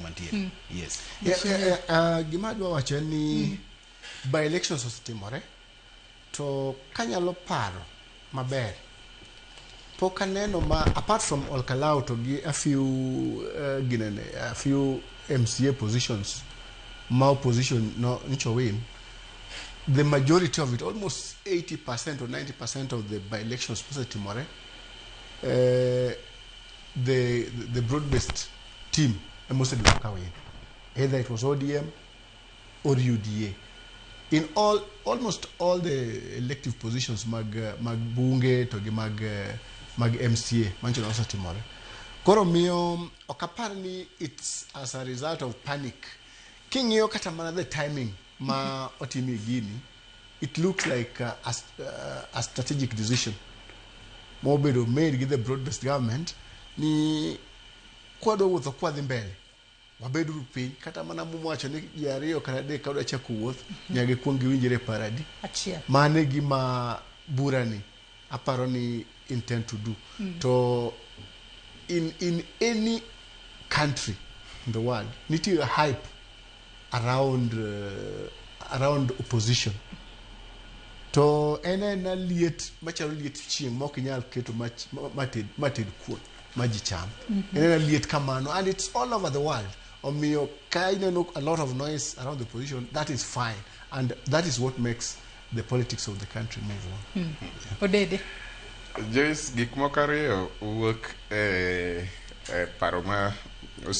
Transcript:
mantiere mm. yes yeah, yeah, yeah, uh, gima adwa wacho en ni mm. by elections osetimore to kanyalo paro maber pok aneno ma apart from olkalau to gi a few uh, ginene a few mca positions ma opposition no ncho win the majority of it almost 80 percent or 90 percent of the by elections posetimore uh, the, the broad based team ema osebedo ka win either it was odm or uda in all almost all the elective positions mag eh, mag bunge to gi mag eh, mag mca manchon osetimore koro miyo mm, ok apar ni its as a result of panic king'iyo kata mana the timing ma otimie gini It looks like a, a, a strategic decision mobedo made gi the broad-based government ni kwadwa wuotho kwadhi mbele wabeduru piny kata mana muwacho ni ji ariyo kata adek ka dwa chako wuoth nyaka gikwong giwinjre e paradi achiel mane gima burani aparo ni intend to do mm. to in in any country in the world nitie hype around uh, around opposition to en ena liet machalo liet chieng' ma ok inyal keto mated mated kuon ma ji cham mm -hmm. en ena liet kamano and it's all over the world omiyo ka ineno a lot of noise around the opposition that is fine and that is what makes the politics of the country move on. Mm. Yeah. Odede. Joyce, gik moko ariyo wuok e, e paro ma